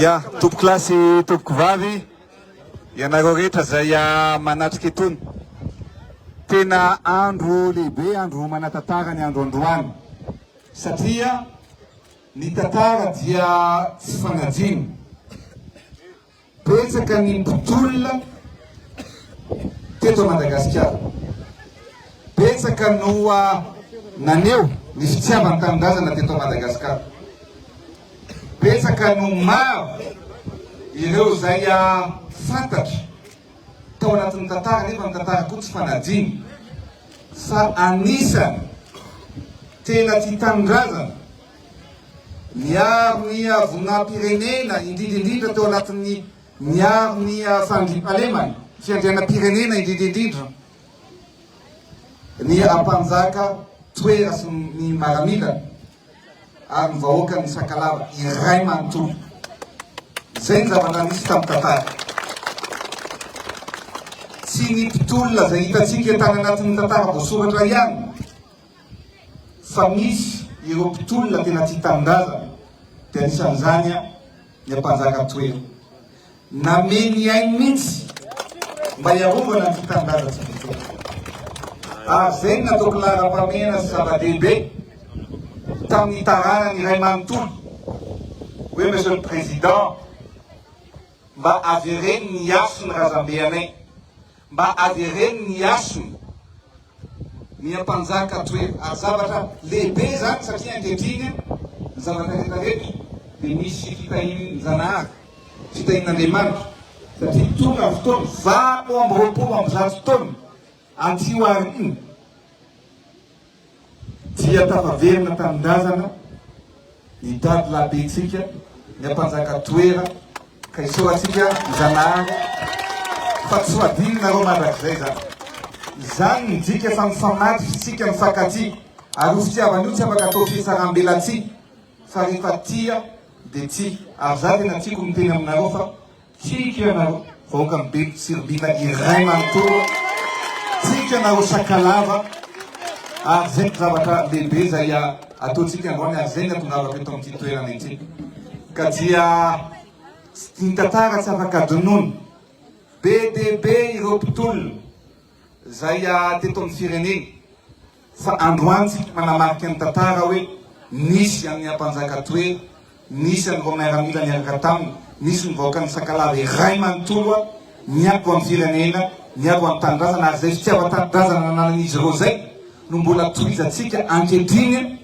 Ia, tompoko lahy sy tompoko vavy, ianareo rehetra izay manatrika itony. Tena andro lehibe, andro manan-tantara ny andro androany satria ny tantara dia tsy fanajiana. Betsaka ny mpitolona teto Madagasikara. Betsaka no naneho ny fitiavan-tanindrazana teto Madagasikara. Betsaka no maro ireo izay fantatra tao anatin'ny tantara nefa ny tantara koa tsy fanadino fa anisany tena tia tanindrazana. Niaro ny havonam-pirenena, indrindra indrindra teo anatin'ny niaro ny fandriampahalemana, fiandrianam-pirenena indrindra indrindra ny ampanjaka toera sy ny maramila ary ny vahoaka ny sakalava iray manontolo. Izay ny zavatra nisy tamin'ny tantara. Tsy ny mpitolona izay hitantsika tany anatin'ny tantara voasoratra ihany fa misy ireo mpitolona tena tia tanindrazana dia anisan'izany ny Ampanjaka Toera. Namehy ny ainy mihitsy mba hiarovana an'ity tanindrazantsika ity. Ary izay no nataoko laharam-pahamehana sy zava-dehibe tamin'ny taranany iray manontolo hoe Monsieur le Président, mba avereno ny hasin'ny razambe anay. Mba avereno ny hasiny ny ampanjaka toetra ary zavatra lehibe izany satria ankehitriny ny zavatra rehetra rehetra dia misy fitahian'Janahary, fitahian'Andriamanitra satria tonga ny fotoana valo amby roapolo amby zato taona aty aoriana. Dia tafaverina tanindrazana ny dadilahibentsika, ny ampanjaka toera, ka isaorantsika ny Zanahary fa tsy ho adinonareo mandrakizay izany. Izany midika fa mifamatotr'isika mifankatia, ary io fitiavana io tsy afaka atao fihetsaram-belatsihy fa rehefa tia dia tia, ary za tena tiako miteny aminareo fa. Tsiky ianareo vahoaka mibeby tsiribina iray manontolo, tsiky ianareo Sakalava ary zay no zavatra lehibe izay ataontsika androany ary zay no atongavako eto amin'ity toerana ity ka dia ny tantara tsy afaka adinoina, be dia be ireo mpitolona izay teto amin'ny firenena. Fa androany tsika manamarika ny tantara hoe nisy an'i Ampanjaka Toery, nisy an'ireo miaramila niaraka taminy, nisy ny vahoakan'i Sakalava iray manontolo niabo an'ny firenena, niabo an'ny tanindrazana ary izay fitiavan-tanindrazana nananan'izy ireo izay no mbola tohizantsika ankehitriny.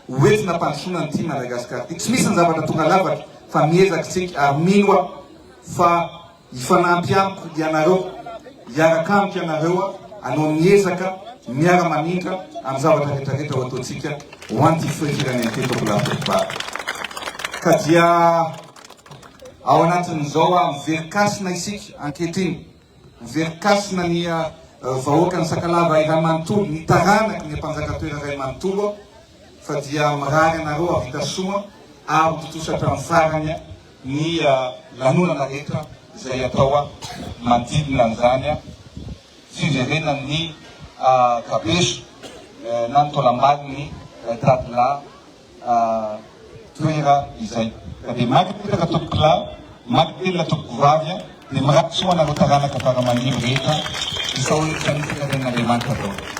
ho entina hampandrosoana an'ity Madagascar ity. Tsy misy ny zavatra tonga lafatra fa miezaka isika ary mino aho fa hifanampy amiko ianareo, hiaraka amiko ianareo hanao ny ezaka miara-mamindra amin'ny zavatra rehetra rehetra ho ataontsika ho an'ity firenena ity Tompoko lahy Foko ba. Ka dia ao anatin'izao miverikasina isika ankehitriny. Ny Velikasina ny vahoakan'i Sakalava iray manontolo, ny taranaky ny Mpanjaka Toera iray manontolo fa dia mirary anareo hahavita soa ary ho tontosa hatramin'ny farany ny lanonana rehetra izay atao manodidina an'izany fiverenan'ny kabeso na ny taolambalon'ny Dadilahy toera izay ka dia maty potraka tompoko lahy maty telina tompoko vavy a dia miraty soa anareo taranaka fara mandimby rehetra isaoriko sanifatra tenin'Andriamanitra daholo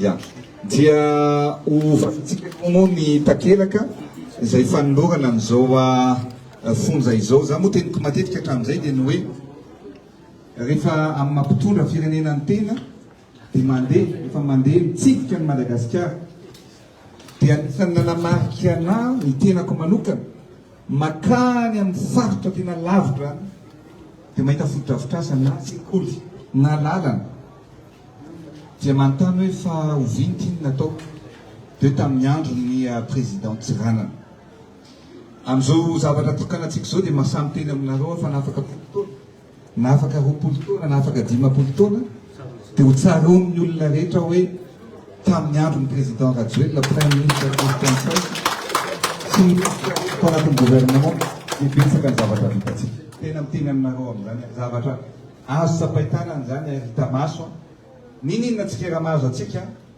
Ya. Dia hovakintsika koa moa ny takelaka izay fanolorana an'izao fonja izao. Za moa teniko matetika hatramin'izay dia ny hoe rehefa amin'ny mampitondra firenena ny tena Dia mandeha, efa mandeha mitsidika an'i Madagasikara. Dia anisan'ny nanamarika anahy ny tenako manokana, makany amin'ny faritra tena lavitra any, dia mahita fotodrafitrasa na sekoly na lalana, dia manontany hoe fa oviana ity no natao? Dia hoe tamin'ny andron'ny Président Tsiranana. Amin'izao zavatra tokanatsika izao dia maha samy teny aminareo aho fa nafaka folo taona. na afaka roapolo taona na afaka dimampolo taona dia ho tsaroan'ny olona rehetra hoe tamin'ny andron'ny président Rajoelina prime ministre Christian Saina sy ny tao anatin'ny gouvernement dia betsaka ny zavatra vitantsika. Tena miteny aminareo amin'izany aho, zavatra azo tsapain-tanana izany ary hita maso an! Ninoninona tsikera mahazo antsika an!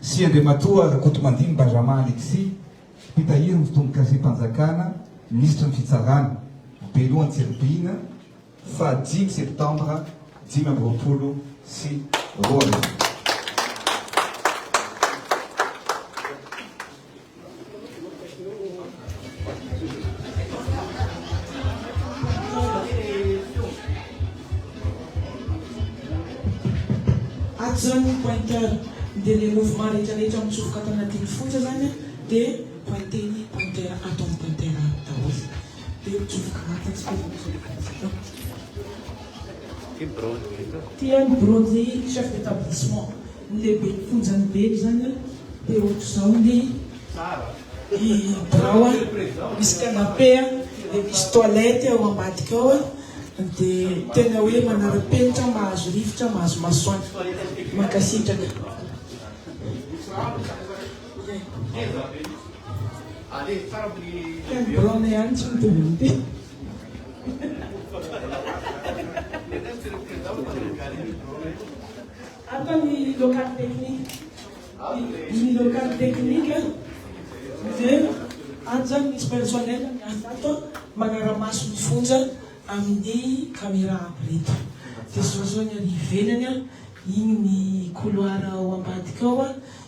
sy Andriamatoa Rakotomandimby Benjamin Alexis, Mpitahiry ny Fotombokazim-panjakana, Minisitry ny Fitsarana, Be Loha Antsiribiana, faha dimy septambra dimy amby roapolo sy roa arivo. Ato zany ny pointeur dia ilay mouvement rehetra rehetra mitsofoka ato anatin'ny fonja zany dia pointer ny pointeur ato amin'ny pointeur ato daholo dia mitsofoka anaty aspirateur. Ity ny bronze chef d'établissement. Ny lehiben'ny fonjan'i Beno izany an, dia ohatr'izao ny birao an, misy canapé an, dia misy toilette ao ambadika ao an, dia tena hoe manara-penitra, mahazo rivotra, mahazo masoandro. Mankasitraka. Ato ny local technique. Ny local technique dia ato izany misy personnel miasa ato manara-maso ny fonja amin'ny camera aby ireto. Dia zao izao ny any ivelany, iny ny couloir ao ambadika ao.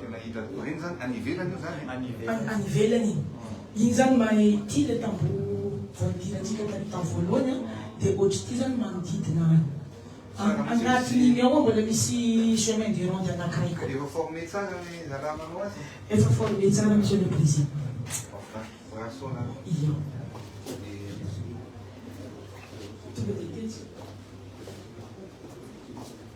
Tena hita doreny zany, any ivelany io zany e? Any ivelany iny. Iny zany mahay ity le tamboho voadirantsika taty tany voalohany an, dia ohatr'ity zany manodidina any. Anatin'iny ao mbola misy chemin de ronde anakiray koa. Efa former tsara le zalahy manao azy? Efa former tsara Monsieur le Président. Ia. Tonga dia tetsy.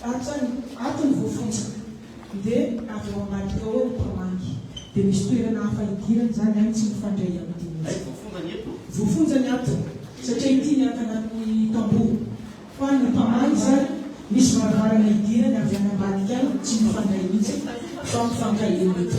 Fatrany ato ny voafontsaka dia avy ao ambadika ao ny mpamangy. Dia misy toerana hafa hidirany izany any tsy mifandray amin'ny dinin'izay. Voafonjany ato satria ity ny ankanan'ny tamboho. Fa ny mpamangy izany misy varavarana hidirany avy any ambadika any tsy mifandray mihitsy fa mifankahery eto.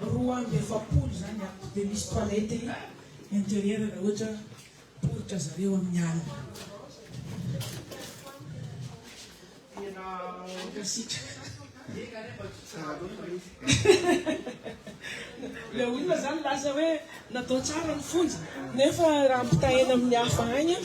Roa amby efapolo izany ato dia misy toilette intérieure raha ohatra poritra zareo amin'ny alina. Tena mankasitraka. Ilay olona izany milaza hoe natao tsara ny fonja nefa raha ampitahaina amin'ny hafa any an!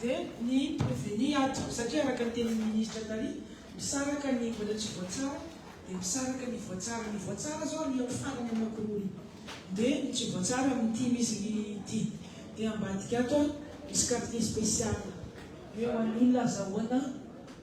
Dia ny proveny ato, satria araka ny tenin'ny ministra tary, misaraka ny mbola tsy voatsara, dia misaraka ny voatsara. Ny voatsara zao alehako farany anankiroa, dia ny tsy voatsara amin'ny ity misy ny ity. Dia ambadika ato misy quartier spécial. Hoe ho an'ny olona azahoana.